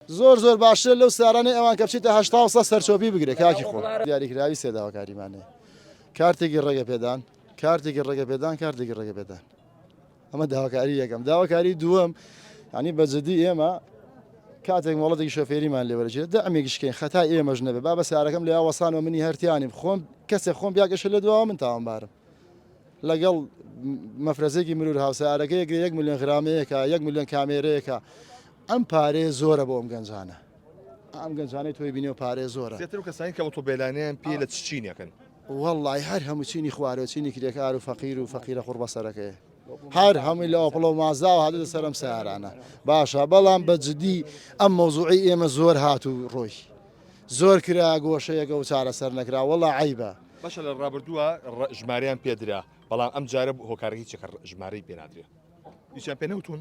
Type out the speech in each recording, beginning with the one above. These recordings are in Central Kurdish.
زۆر زۆر باشترە لەو سارانەی ئەوان کە بچیتە هەشتا و سەد سەرچۆپی بگرێ کاکی خۆ دیاریکراوی سێداوەکاریمانێ کارتێکی ڕێگە پێدان کارتێکی ڕێگە پێدان کارتێکی ڕێگە پێدان ئەمە داواکاری یەکەم داواکاری دووەم ینی بەجددی ئێمە کاتێک مۆڵەتێکی شۆفێریمان لێوەرجێت دە ئەمێکشکەین خەتا ئێمەش نەبێ با بە سارەکەم لە وەسان و منی هەرتیانیم خۆم کەسێک خۆم بیاگەشە لە دواوە من تاوانبارم لەگەڵ مەفرەزێکی مرور هاوسارەکە یەک یەک میلیۆن غرامەیەەکە یەک میلیۆن کامێرەیەەکە ئەم پارەیە زۆرە بۆ ئەم گەنجانە. ئەم گەنجانەی تۆی بینیەوە پارەیە زۆرە. زیاتر ئەو کەسانەی کە ئۆتۆبێلانەیان پێیە لە چ چینێکن؟ وەڵڵاهی هەر هەموو چینی خوارەوە چینی کرێکار و فەقیر و فەقیرە قوڕبەسەرەکەیە. هەر هەمووی لە ئەوپڵە و مازاوە هاتووتە سەر ئەم سارانە باشە بەڵام بە جدی ئەم مەوزوعی ئێمە زۆر هات و ڕۆی زۆر کرا گۆشەیەکە و چارەسەر نەکرا وەڵا عیبە باشە لە ڕابردووە ژماریان پێدرا بەڵام ئەم جارە هۆکارەکەی چەکە ژمارەی پێنادرێ هیچیان پێ نەوتون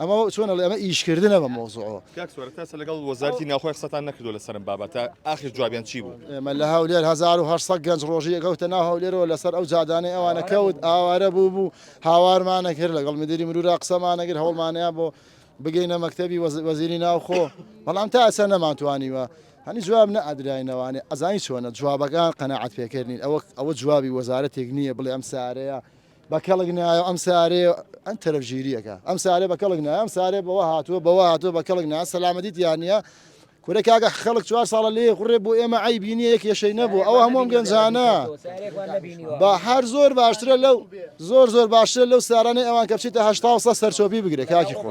ئەمە چۆن ئەڵێ ئەمە ئیشکردنە بە مەوزوعەوە کاک سۆرە تاسە لەگەڵ وەزارەتی ناوخۆی قسەتان نەکردو لەسەر ئەم بابەتە ئاخر جوابیان چی بوو ئێمە لە هەولێر 1800 گەنج ڕۆژی ئەکەوتە ناو هەولێرەوە لەسەر ئەو جادانەی ئەوانە کەوت ئاوارە بوو بوو هاوارمانە کرد لەگەڵ مدیری مرورا قسەمانە کرد هەوڵمانەیە بۆ بگەینە مەکتەبی وەز- وەزیری ناوخۆ بەڵام تا ئەسە نەمانتوانیوە هەنی جواب نەئەدراینەوانێ ئەزانی چۆنە جوابەکان قەناعەت پێکەر نین ئەوە ئەوە جوابی وەزارەتێک نییە بڵێ ئەم سارەیە بە کەڵک نایە ئەم سارێ ئەم تەرەف ژیریەکە ئەم سارێ بە کەڵک نایە ئەم سارێ بەوە هاتووە بەوە هاتووە بە کەڵک نا سەلامەتیت یانە کورە کاگە خەڵک چوار ساڵە لێ خوڕێ بۆ ئێمە ئەی بینی یەک یەشەی نەبوو ئەو هەمووم گەنجانە با هەر زۆر باشترە لەو زۆر زۆر باشترە لەو سارانەی ئەوان کە بچیتە هەشتا سە سەرچۆپی بگرێت کاکی خۆ.